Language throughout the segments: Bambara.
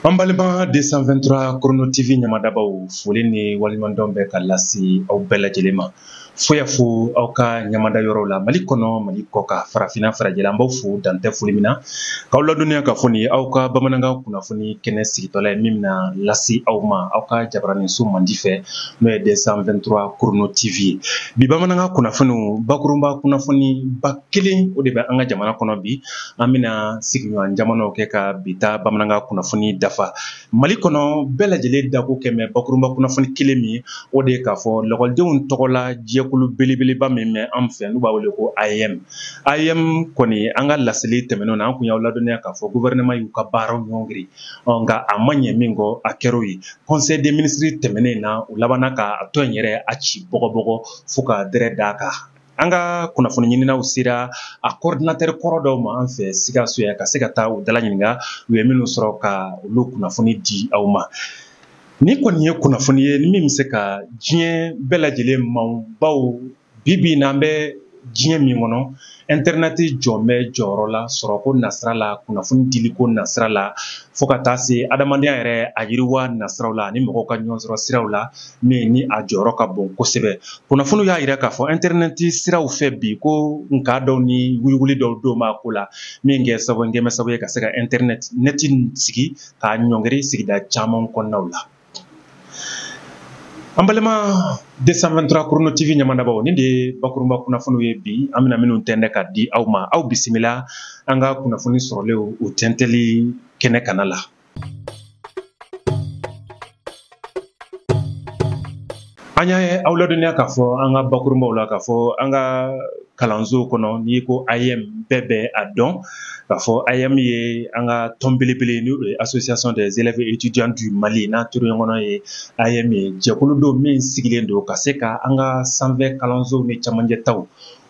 An balima 223 Chrono TV ɲamadabaw foli ni waliɲumandɔn bɛ ka lase aw bɛɛ lajɛlen ma. Fo y'a fo aw ka ɲamada yɔrɔw la Mali kɔnɔ Mali kɔ kan farafinna farajɛla an b'aw fo dan tɛ foli min na k'aw ladɔnniya k'a fɔ nin ye aw ka bamanankan kunnafoni kɛnɛ sigitɔla ye min bɛna lase aw ma aw ka jabaraninso mandi fɛ n'o ye 223 Chrono TV ye. Bi bamanankan kunnafoniw bakurunba kunnafoni ba kelen o de bɛ an ka jamana kɔnɔ bi. an bɛna sigiɲɔgɔn jamanaw kɛ ka bi ta bamanankan kunnafoni dafa mali kɔnɔ bɛɛ lajɛlen dako kɛlen bɛ bakurunba kunnafoni kelen min o de ye k'a fɔ lakɔlidenw tɔgɔla jɛkulu belebeleba min bɛ an fɛ n'u b'a wele ko AEEM AEEM kɔni an ka laseli tɛmɛnen na an tun y'aw ladɔnniya k'a fɔ gouvernement y'u ka baaraw ɲɔngiri nka a ma ɲɛ min kɔ a kɛr'o ye conseil des ministres tɛmɛnen na u labanna ka tɔn in yɛrɛ a ci bɔgɔbɔgɔ fo ka dɛrɛ d'a kan an ka kunnafoni ɲininaw sera a coordinateur kɔrɔ dɔw ma an fɛ sikaso yan ka se ka taa u dala ɲininka u ye minnu sɔrɔ ka olu kunnafoni di aw ma nin kɔni ye kunnafoni ye min bɛ se ka diɲɛ bɛɛ lajɛlen ma bawo bi bi in na an bɛ diɲɛ min kɔnɔ intɛrinɛti jɔlen bɛ jɔyɔrɔ la sɔrɔko nasira la kunnafoni diliko nasira la fo ka taa se adamadenya yɛrɛ a yiriwa nasiraw la ani mɔgɔw ka ɲɔgɔn sɔrɔ siraw la min ni a jɔyɔrɔ ka bon kosɛbɛ kunnafoniw y'a yira k'a fɔ intɛrɛnɛti siraw fɛ bi ko nka dɔw ni wulili dɔw donnen b'a ko la min kɛ sababu kɛlen bɛ sababu ye ka se ka intɛrɛnɛti sigi k'a ɲɔngiri sigida caman kɔnɔnaw la an balima 223 Chrono TV ɲamadabaw nin de ye bakurunba kunnafoniw ye bi an bɛna minnu tɛntɛn ka di aw ma aw bisimila an ka kunnafoni sɔrɔlenw u tɛntɛnli kɛnɛ kana la an y'a aw ladɔnniya k'a fɔ an ka bakurunbaw la k'a fɔ an ka kalanso kɔnɔ n'i ko AEEM bɛɛ bɛ a dɔn k'a fɔ AEEM ye an ka tɔn belebele n'o ye association des élèves et étudiants du Mali n'a turu ɲɔgɔn n'o ye AEEM ye jɛkulu don min sigilen don ka se ka an ka sanfɛ kalansow ni cɛmancɛ taw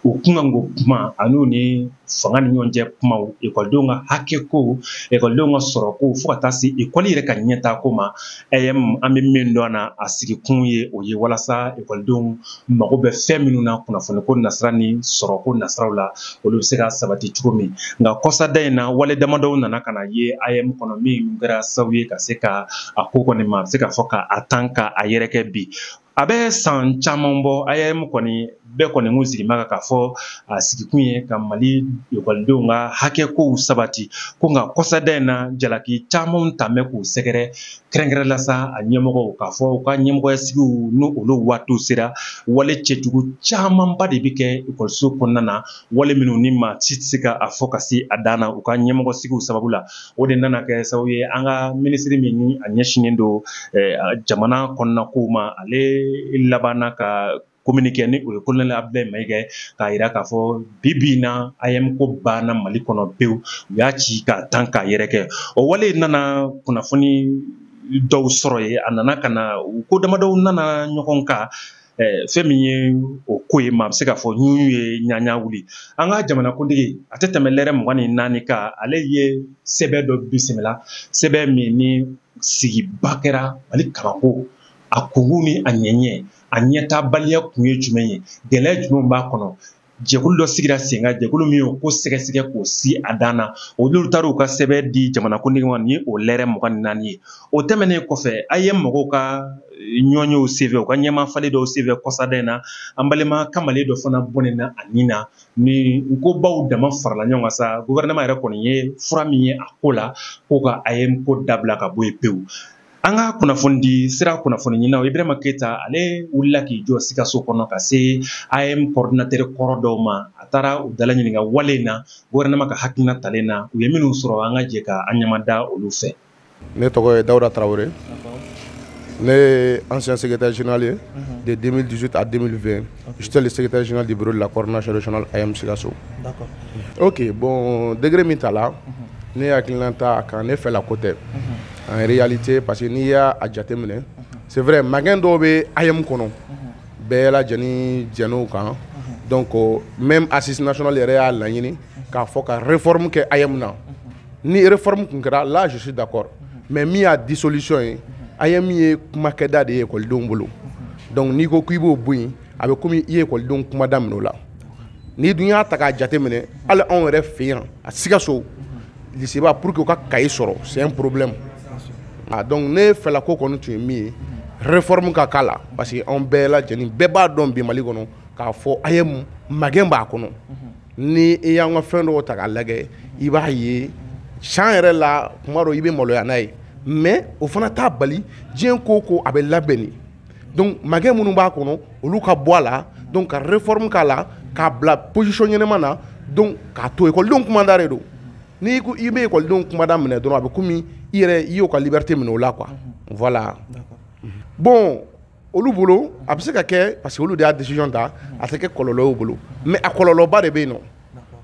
u kunkanko kuma an'u ni fanga ni ɲɔgɔn cɛ kumaw ekɔlidenw ka hakɛkow ekɔlidenw ka sɔrɔ ko fo ka taa se ekɔli yɛrɛ ka ɲɛtaako ma AEEM an bɛ min dɔn na a sigikun ye o ye walasa ekɔlidenw mago bɛ fɛn minnu na kunnafoni ko nasira ni sɔrɔ ko nasiraw la olu bɛ se ka sabati cogo min nka kɔsada in na wale damadɔw nana ka na ye AEEM kɔnɔ min kɛra sababu ye ka se ka a ko kɔni ma a bɛ se ka fɔ ka a tan ka a yɛrɛkɛ bi a bɛ san caman bɔ AEEM kɔni bɛɛ kɔni kun sigilen b'a kan k'a fɔ a sigikun ye ka mali ekɔlidenw ka hakɛ kow sabati ko nka kɔsada in na jalaki camanw taalen bɛ k'u sɛgɛrɛ kɛrɛnkɛrɛn la sa a ɲɛmɔgɔw k'a fɔ u ka ɲɛmɔgɔya sigiw n'o olu waatiw sera wale cɛjugu camanba de bɛ kɛ ekɔliso kɔnɔna na wale minnu ni maa si tɛ se ka a fɔ ka se a dan na u ka ɲɛmɔgɔ sigiw sababu la o de nana kɛ sababu ye an ka minisiri min ni a ɲɛsinnen don jamana kɔnɔna kow ma ale labanna ka communiqué ni o ye kolonɛli abudulayi mayiga k'a jira k'a fɔ bi bi na AEM ko banna mali kɔnɔ pewu u y'a ci k'a tan k'a yɛrɛkɛ o wale nana kunnafoni dɔw sɔrɔ ye a nana ka na u ko damadɔw nana ɲɔgɔn kan Eh, fɛn min ye o ko ye maa bɛ se k'a fɔ ɲuɲu ye ɲaɲa wuli an ka jamanakuntigi a tɛ tɛmɛ lɛrɛ mugan ni naani kan ale ye sɛbɛn dɔ bisimila sɛbɛn min ni sigiba kɛra mali kalanko a kungu ni a ɲɛɲɛ a ɲɛtabaliya kun ye jumɛn ye gɛlɛya jumɛn b'a kɔnɔ jɛkulu dɔ sigira sen kan jɛkulu min y'o ko sɛgɛsɛgɛ k'o si a dan na olu taara u ka sɛbɛn di jamanakuntigi ma ni o lɛrɛ mugan ni naani ye o tɛmɛnen kɔfɛ AEM mɔgɔw ka ɲɔɲɛw senfɛ u ka ɲɛmaa falen dɔw senfɛ kɔsada in na an balima kamalen dɔ fana bɔnɛna a ni na nin kobaw dama farala ɲɔgɔn kan sa gouvernement yɛrɛ kɔni ye fura min ye a ko la ko ka AEM ko dabila ka bɔ yen pewu an ka kunnafonidi sira kunnafoni ɲinina ibrahima keyita ale wulila k'i jɔ sikaso kɔnɔ ka se AEM kɔrɔdinatɛri kɔrɔ dɔw ma a taara u dala ɲininka wale in na gouvernement ka hakilina talen na u ye minnu sɔrɔ an ka jɛ ka an ɲamada olu fɛ ne tɔgɔ ye dawuda tarawele ne ye ancien secrétaire général ye mhm. de 2018 à 2020 j'étais le secrétaire général du bureau de la coordination régionale AEM sikaso ok bon décret min tala mhm. ne hakilinata a kan ne fɛla ko tɛ mhm. en réalité parce que n'i y'a jateminɛ c'est vrai magɛn dɔw bɛ AEM kɔnɔ bɛɛ lajɛlen jɛn'o kan donc même assise nationale yɛrɛ y'a laɲini k'a fɔ ka réforme kɛ AEM na ni réforme kun kɛra là je suis d'accord mais min y'a dissolution ye AEM ye kumakɛda de ye ekɔlidenw bolo donc n'i ko k'i b'o bɔ yen a bɛ komi i ye ekɔlidenw kumada minɛ o la n'i dun y'a ta k'a jateminɛ hali anw yɛrɛ fɛ yan à Sikaso liseba pour que u ka kaye sɔrɔ c'est un problème ah, donc ne fɛla ko kɔni tun ye min ye réforme ka k'a la parce que anw bɛɛ lajɛlen bɛɛ b'a dɔn bi mali kɔnɔ k'a fɔ AEM magɛn b'a kɔnɔ ni i y'an ka fɛn dɔw ta k'a lagɛ i b'a ye can yɛrɛ la kuma dɔ i bɛ maloya n'a ye mais o fana t'a bali diɲɛ ko ko a bɛ labɛn de donc magɛn minnu b'a kɔnɔ olu ka bɔ a la donc ka réforme k'a la k'a bila position ɲɛnama na donc k'a to ekɔlidenw kumada de don n'i ko i bɛ ekɔlidenw kumada minɛ dɔrɔn a bɛ komi i yɛrɛ i y'o ka liberté minɛ o la quoi voilà bon olu bolo a bɛ se ka kɛ parce que olu de y'a décision ta a tɛ kɛ kɔlɔlɔ y'u bolo mais a kɔlɔlɔba de bɛ yen nɔ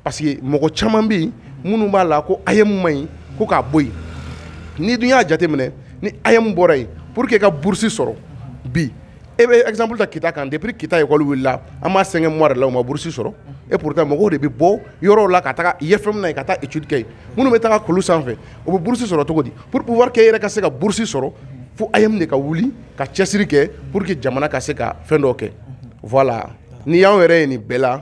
parce que mɔgɔ caman bɛ yen minnu b'a la ko AEM man ɲi ko k'a bɔ yen n'i dun y'a jateminɛ ni AEM bɔra yen pour que ka bourse sɔrɔ bi e bɛ exemple ta Kita kan depuis Kita école wulila an b'a cinq mois la u ma bourse sɔrɔ et pourtant mɔgɔw de bɛ bɔ yɔrɔw la ka taa IFM na ka taa étude kɛ yen minnu bɛ taa kulu sanfɛ o bɛ bourse sɔrɔ cogo di pour pouvoir e yɛrɛ ka se ka bourse sɔrɔ fo AEM de ka wuli ka cɛsiri kɛ pour que jamana ka se ka fɛn dɔ kɛ voilà n'i y'an yɛrɛ ye nin bɛɛ la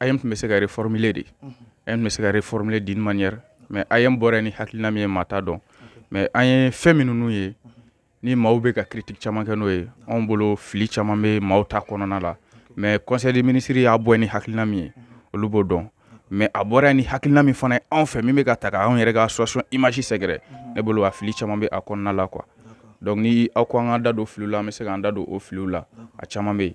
AEM tun bɛ se ka reformuler de AEM tun bɛ se ka reformuler d'une manière mais AEM bɔra ni hakilina min ye maa t'a dɔn mais an ye fɛn minnu ye ni maaw bɛ ka critique caman kɛ n'o ye anw bolo fili caman bɛ maaw ta kɔnɔna la mais conseil des ministres y'a bɔ ni hakilina min ye olu b'o dɔn mais a bɔra ni hakilina min fana ye anw fɛ min bɛ ka taa anw yɛrɛ ka association image sɛgɛrɛ ne bolo a fili caman bɛ a kɔnɔna la quoi donc ni aw ko an ka da don filiw la an bɛ se k'an da don o filiw la a caman bɛ yen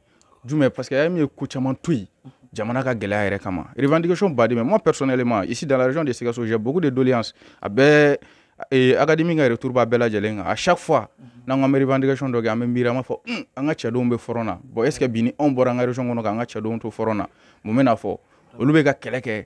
jumɛn parce que AEM ye ko caman to yen jamana ka gɛlɛya yɛrɛ kama revendication baden mais moi personnellement ici dans la région de Sikasso j'ai beaucoup de doléances a bɛɛ eh, académie ka retour b'a bɛɛ lajɛlen kan à chaque fois n'an ko an bɛ revendication dɔ kɛ an bɛ miiri an b'a fɔ un an ka cɛdenw bɛ fɔrɔn na bon est ce que bi ni anw bɔra an ka région kɔnɔ k'an ka cɛdenw to fɔrɔn na mun bɛ na fɔ olu bɛ ka kɛlɛ kɛ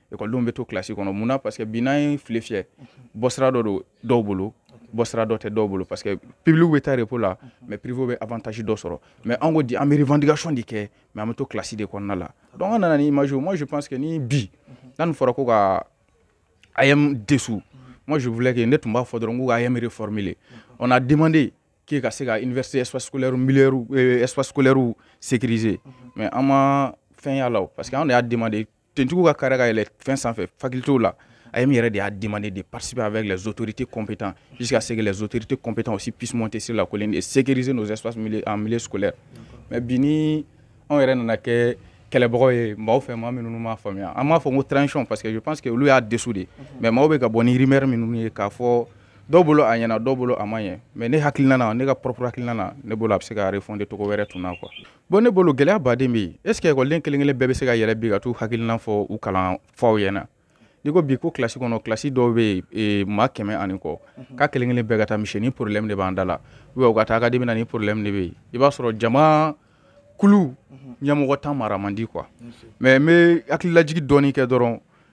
ekɔlidenw bɛ to kilasi kɔnɔ mun na parce que bi n'an y'a filɛ fiyɛ bɔsira dɔ don dɔw bolo bɔsira dɔ tɛ dɔw bolo parce que public bɛ taa repos la mais privéw bɛ avantage dɔ sɔrɔ mais an ko di an bɛ revendication de kɛ mais an bɛ to kilasi de kɔnɔna la donc an nana ni image moi je pense que ni bi n'a nin fɔra ko ka AEM dissout moi je voulais que ne tun b'a fɔ dɔrɔn ko ka AEM reformuler on a demandé k'e ka se ka université espace scolaire milieu euh, espace scolaire sécuriser mais an ma fɛn y'a la parce que an de y'a demandé tenuetigiw ka kari ka yɛlɛ fɛn sanfɛ facultés la AEM yɛrɛ de y'a demandé de participer avec les autorités compétents jusqu'à ce que les autorités compétents aussi puissent monter sur la colline et sécuriser nos espaces milieu, en milieu scolaire mais bi ni anw yɛrɛ nana kɛ kɛlɛbagaw ye maaw fɛ maa minnu m'a faamuya an b'a fɔ ko transition parce que je pense que olu y'a dissout de mais maaw bɛ ka bɔ ni rumeur minnu ye k'a fɔ dɔw bolo a ɲɛna dɔw bolo a ma ɲɛ mais ne hakilina na ne ka propre hakilina na ne bolo a bɛ se ka refonder cogo wɛrɛ tun na quoi bon ne bolo gɛlɛya baden bɛ yen est ce que ekɔliden kelen kelen bɛɛ bɛ se ka yɛlɛ bi ka t'u hakilina fɔ u kalanfaw ɲɛna n'i ko bi ko kilasi kɔnɔ kilasi dɔw bɛ yen e, maa kɛmɛ ani kɔ mhm. k'a kelen kelen bɛɛ ka taa misi ni problème de b'an da la ou bien u ka taa académie na ni problème de bɛ yen i b'a sɔrɔ jama kulu mhm. ɲɛmɔgɔntan mara man di quoi mais n bɛ hakililajigi dɔɔni kɛ dɔrɔn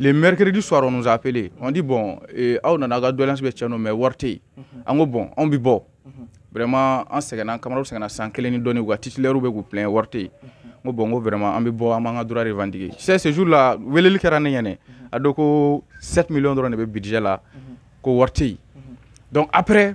le mercredi soir on nous a appelé on dit bon eh, aw nana aw ka doléance bɛ cɛn nɔ mais wari tɛ yen mhm. an ko bon anw bɛ bɔ mhm. vraiment an sɛgɛnna camarades sɛgɛnna san kelen ni dɔɔni u ka titulaires bɛ k'u plain wari tɛ yen mhm. n ko bon n ko vraiment an bɛ bɔ an b'an ka droit revendiquer c'est ce jour là weleli kɛra ne ɲɛna a don ko 7 millions dɔrɔn de bɛ budget la ko wari tɛ yen donc après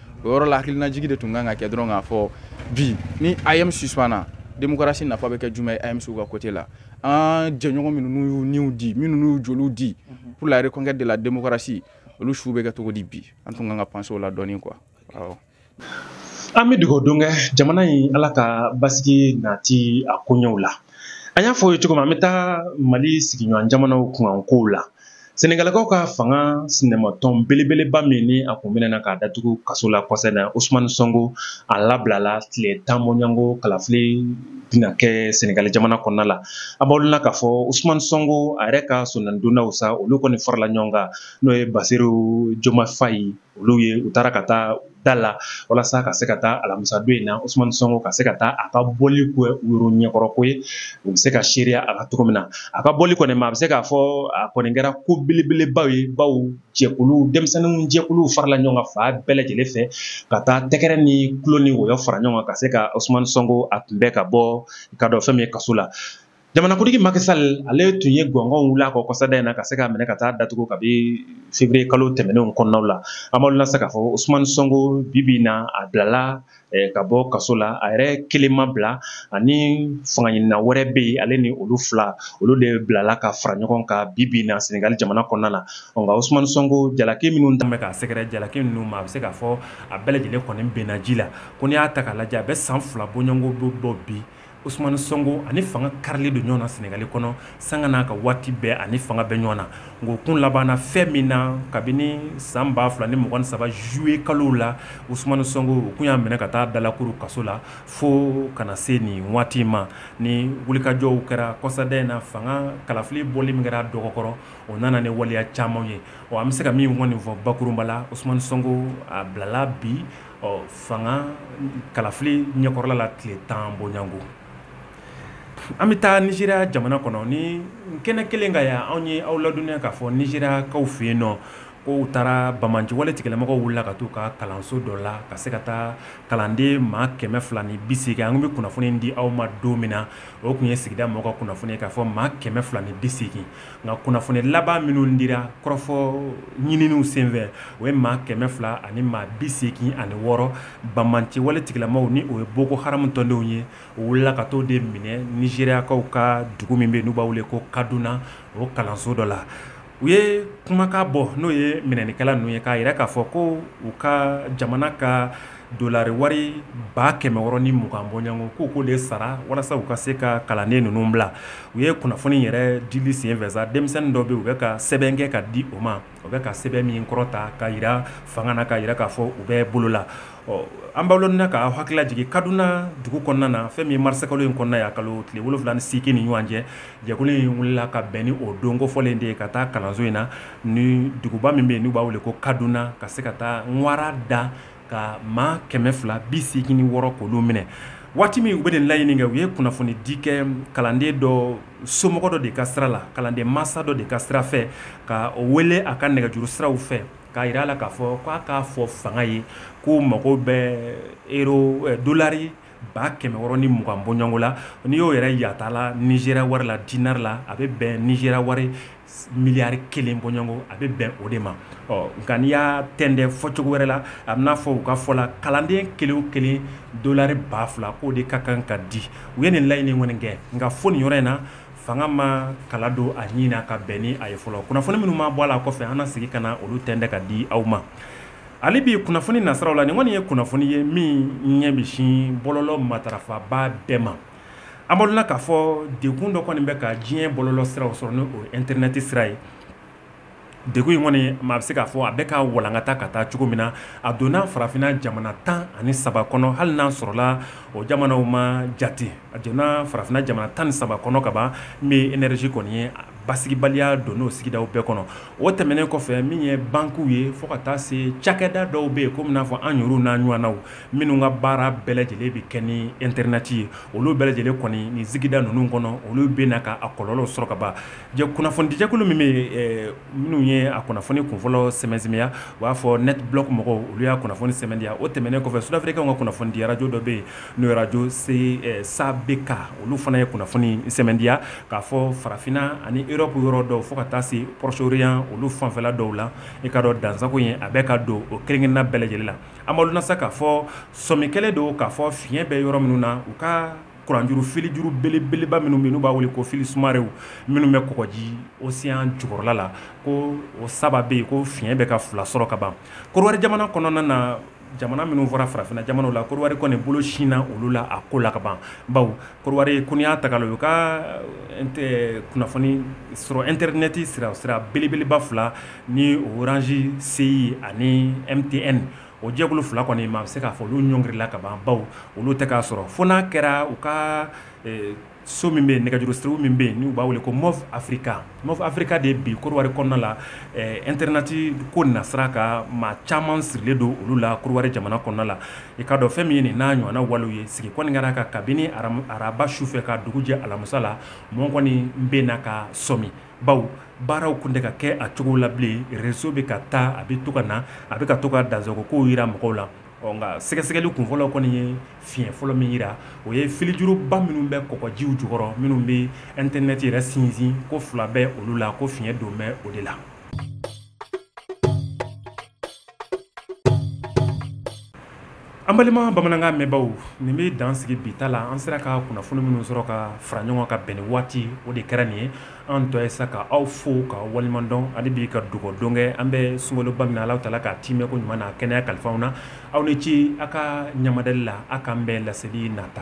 o yɔrɔ la hakilinajigi de tun kan ka kɛ dɔrɔn k'a fɔ bi ni am suspanna demokarasi nafa bɛ kɛ jumɛn ye amc ka kote la an jɛɲɔgɔn minnu n'u y'u niw di minnu n'u y'u joliw di mhm. pour la reconquête de la démocratie olu su bɛ kɛ cogo di bi an tun kan ka panse o la dɔɔni quoi awɔ an bɛ dugawu don kɛ jamana ye ala ka basigi nati a koɲɛw la an y'a fɔ aw ye cogo min an bɛ taa mali sigiɲɔgɔn jamanaw kunkan kow la Sɛnɛgalikaw ka fanga sinamɔtɔn belebeleba min ni a kun minɛna k'a datugu kaso la kɔsa in na Ousmane Sonko a labilala tile tan bɔɲɔgɔnko kalafili bɛna kɛ sɛnɛgali jamana kɔnɔna la a b'aw la k'a fɔ Ousmane Sonko a yɛrɛ ka sɔnnadonnaw sa olu kɔni farala ɲɔgɔn kan n'o ye Bassirou Diomaye Faye olu ye u taara ka taa da la walasa ka se ka taa alamisa don in na Ousmane Sonko ka se ka taa a ka bɔli kɛ yɔrɔ ɲɛkɔrɔ ko ye u bɛ se ka seereya a kan cogo min na a ka bɔli kɔni ma a bɛ se k'a fɔ a kɔni kɛra ko belebeleba ye baw jɛkulu denmisɛnninw jɛkulu farala ɲɔgɔn kan fan bɛɛ lajɛlen fɛ ka taa tɛgɛrɛ ni kulo ni wɔyɔ fara ɲɔgɔn kan ka se ka Ousmane Sonko a kunbɛn ka bɔ i k'a dɔn fɛn min ye kaso la jamanakuntigi Macky Sall ale tun ye gɔngɔn wuli a kɔ kɔsada in na ka se k'a minɛ ka taa datugu kabi février kalo tɛmɛnenw kɔnɔnaw la an b'aw lase k'a fɔ Ousmane Sonko bi bi in na a bilala eh, ka bɔ kaso la a yɛrɛ kelen ma bila ani fangaɲinina wɛrɛ bɛ yen ale ni olu fila olu de bilala ka fara ɲɔgɔn kan bi bi in na Senegal jamana kɔnɔna na nka Ousmane Sonko jalaki minnu tun bɛ k'a sɛgɛrɛ jalaki ninnu ma a bɛ se k'a fɔ a bɛɛ lajɛlen kɔni binna ji la ko n'i y'a ta k'a lajɛ a bɛ san fila bɔɲɔgɔnko bɔ bi Ousmane Sonko ani fanga karilen don ɲɔgɔn na Senegali kɔnɔ sanga n'a ka waati bɛɛ ani fanga bɛ ɲɔgɔn na nka o kun labanna fɛn min na kabini san 2023 juillet kalo la Ousmane Sonko u kun y'a minɛ ka taa dalakuru kaso la fo kana se nin waati in ma ni wulikajɔw kɛra kɔsada in na fanga kalafili bɔli min kɛra a dɔgɔ kɔrɔ o nana ni waleya caman ye ɔ an bɛ se ka min kɔni fɔ bakurunba la Ousmane Sonko a bilala bi ɔ fanga kalafili ɲɛkɔrɔla la tile tan bɔɲɔgɔnko an bɛ taa nizeriya jamana kɔnɔ ni kɛnɛ kelen kan yan anw ye aw ladɔnniya k'a fɔ nizeriyakaw fɛ yen nɔ ko u taara banbaanciwale tigilamɔgɔw wulila ka taa u ka kalanso dɔ la ka se ka taa kalanden maa kɛmɛ fila ni bi seegin an kun bɛ kunnafoni di aw ma don min na o kun ye sigida mɔgɔw ka kunnafoni ye k'a fɔ maa kɛmɛ fila ni bi seegin nka kunnafoni laban minnu dira kɔrɔfɔ ɲininiw senfɛ o ye maa kɛmɛ fila ani maa bi seegin ani wɔɔrɔ banbaanci wale tigilamaaw ni o ye Boko Haram tɔndenw ye o wulila ka t'o de minɛ nizeriyakaw ka dugu min bɛ n'u b'a wele ko Kaduna o kalanso dɔ la u ye kumakan bɔ n'o ye minɛnikɛla ninnu ye k'a jira k'a fɔ ko u ka jamana ka Dollars wari ba kɛmɛ wɔɔrɔ ni mugan bɔɲɔgɔnko k'o de sara walasa u ka se ka kalanden ninnu bila u ye kunnafoni yɛrɛ dili senfɛ sa denmisɛnnin dɔ bɛ yen u bɛ ka sɛbɛn kɛ ka di o ma o bɛ ka sɛbɛn min kɔrɔta ka jira fanga na ka jira k'a fɔ u b'u bolo la ɔ an b'a dɔn ka hakili lajigin kaduna dugu kɔnɔna na fɛn min marisa kalo in kɔnɔ yan kalo tile wolonwula ni seegin ni ɲɔgɔn cɛ jɛkulu in wulila ka bɛn ni o don kofɔlen de ye ka taa kalanso in na ni duguba min bɛ yen n'u b'a wele ko kaduna ka se ka taa wara da ka maa kɛmɛ fila bi seegin ni wɔɔrɔ k'olu minɛ waati min u bɛ nin laɲini kɛ u ye kunnafoni di kɛ kalanden dɔ somɔgɔ dɔ de ka sira la kalanden masa dɔ de ka sira fɛ ka o wele a ka nɛgɛjuru siraw fɛ k'a jira a la k'a fɔ ko a k'a fɔ fanga ye k'u mago bɛ euro dolari ba kɛmɛ wɔɔrɔ ni mugan bɔɲɔgɔnko la n'i y'o yɛrɛ yatala Nigeria wari la dinari la a bɛ bɛn Nigeria wari miliyari kelen bɔɲɔgɔnko a bɛ bɛn o de ma ɔ nka n'i y'a tɛnɛn fɔcogo wɛrɛ la a bɛ n'a fɔ u ka fɔ la kalanden kelen kelen dolari ba fila k'o de ka kan ka di u ye nin laɲini kɔni kɛ nka fo nin yɔrɔ in na fanga ma kala don a ɲinin na ka bɛn ni a ye fɔlɔ kunnafoni minnu ma bɔ a la kɔfɛ an na segin ka na olu tɛ ka di aw ma hali bi kunnafoni nasiraw la nin kɔni ye kunnafoni ye min ɲɛ bɛ sin bɔlɔlɔ matarafabaa bɛɛ ma An b'a dɔn k'a fɔ degun dɔ kɔni bɛ ka diɲɛ bɔlɔlɔ siraw sɔrɔ n'o ɛntɛrinɛti sira ye degun in kɔni maa bɛ se k'a fɔ a bɛ ka walankata ka taa cogo min na a donna farafinna jamana tan ani saba kɔnɔ hali n'a sɔrɔla o jamanaw ma jate a donna farafinna jamana tan ni saba kɔnɔ kaban n bɛ enɛrizi kɔni ye basigibaliya don n'o sigidaw bɛɛ kɔnɔ o tɛmɛnen kɔfɛ min ye bankiw ye fo ka taa se cakɛda dɔw bɛ yen komi n'a fɔ an yɛrɛw n'an ɲɔgɔnnaw minnu ka baara bɛɛ lajɛlen bɛ kɛ ni ɛntɛrinɛti ye olu bɛɛ lajɛlen kɔni nin sigida ninnu kɔnɔ olu bɛ na ka a kɔlɔlɔ sɔrɔ kaban kunnafonidijɛkulu min bɛ minnu ye a kunnafoni kunfɔlɔ sɛmɛntiya u b'a fɔ NetBlocks mɔgɔw olu y'a kunnafoni sɛmɛntiya o tɛmɛnen kɔfɛ sudafrikaw ka kunnafonidi arajo dɔ bɛ yen n'o ye arajo SABK olu fana ye kunnafoni sɛmɛntiya k'a fɔ farafinna ani Erɔpu yɔrɔ dɔw fo ka taa se Proche-Orient olu fanfɛla dɔw la i k'a dɔn dansagon in a bɛ ka don o kelenkelenna bɛɛ lajɛlen la An b'a dɔn sa k'a fɔ sɔmi kɛlen don k'a fɔ fiɲɛ bɛ yɔrɔ minnu na u ka kuranjuru filijuru belebeleba minnu bɛ n'u b'a wele ko fili sumarɛnw minnu bɛ kɔgɔji oseyan jukɔrɔla la ko o saba bɛ yen ko fiɲɛ bɛ ka fila sɔrɔ ka ban Kɔdiwari jamana kɔnɔna na jamana minnu fɔra farafinna jamanaw la Kɔdiwari kɔni bolo sinna olu la a ko la kaban baw Kɔdiwari ko n'i y'a ta k'a lajɛ u ka kunnafoni sɔrɔ internet sira sira belebeleba fila ni Orange CI ani MTN o jɛkulu fila kɔni maa bɛ se k'a fɔ olu ɲɔngirila ka ban bawo olu tɛ k'a sɔrɔ fo n'a kɛra u ka so min bɛ nɛgɛjuru sira min bɛ yen n'u b'a wele ko Moov Africa Moov Africa de bi Kɔdiwari kɔnɔna la internet ko nasira ka maa caman sirilen don olu la Kɔdiwari jamana kɔnɔna la I ka dɔn fɛn min ye nin n'a ɲɔgɔnna walew ye sigi kɔni kɛra ka kabini araba sufɛ ka dugu jɛ alamisa la mɔɔ kɔni bɛ na ka sɔmi bawo baaraw kun tɛ ka kɛ a cogo la bilen réseau bɛ ka taa a bɛ to ka na a bɛ ka to ka dansagon kow jira mɔgɔw la ɔ nka sɛgɛsɛgɛli kunfɔlɔ kɔni ye fiɲɛ fɔlɔ min jira o ye filijuruba minnu bɛ kɔgɔjiw jukɔrɔ minnu bɛ internet yɛrɛ sinsin ko fila bɛ olu la ko fiɲɛ don bɛ o de la An balima bamanankan mɛnbaw nin bɛ dan sigi bi ta la an sera ka kunnafoni minnu sɔrɔ ka fara ɲɔgɔn ka bɛn ni waati o de kɛra nin ye an tɔ ye sa ka aw fo ka waleɲumandɔn hali bi ka dugawudon kɛ an bɛ sunkaloba min na Alahu Taala k'a tiimɛ ko ɲuman na kɛnɛya kalifaw na aw ni ce aw ka ɲamadali la a k'an bɛn laseli nata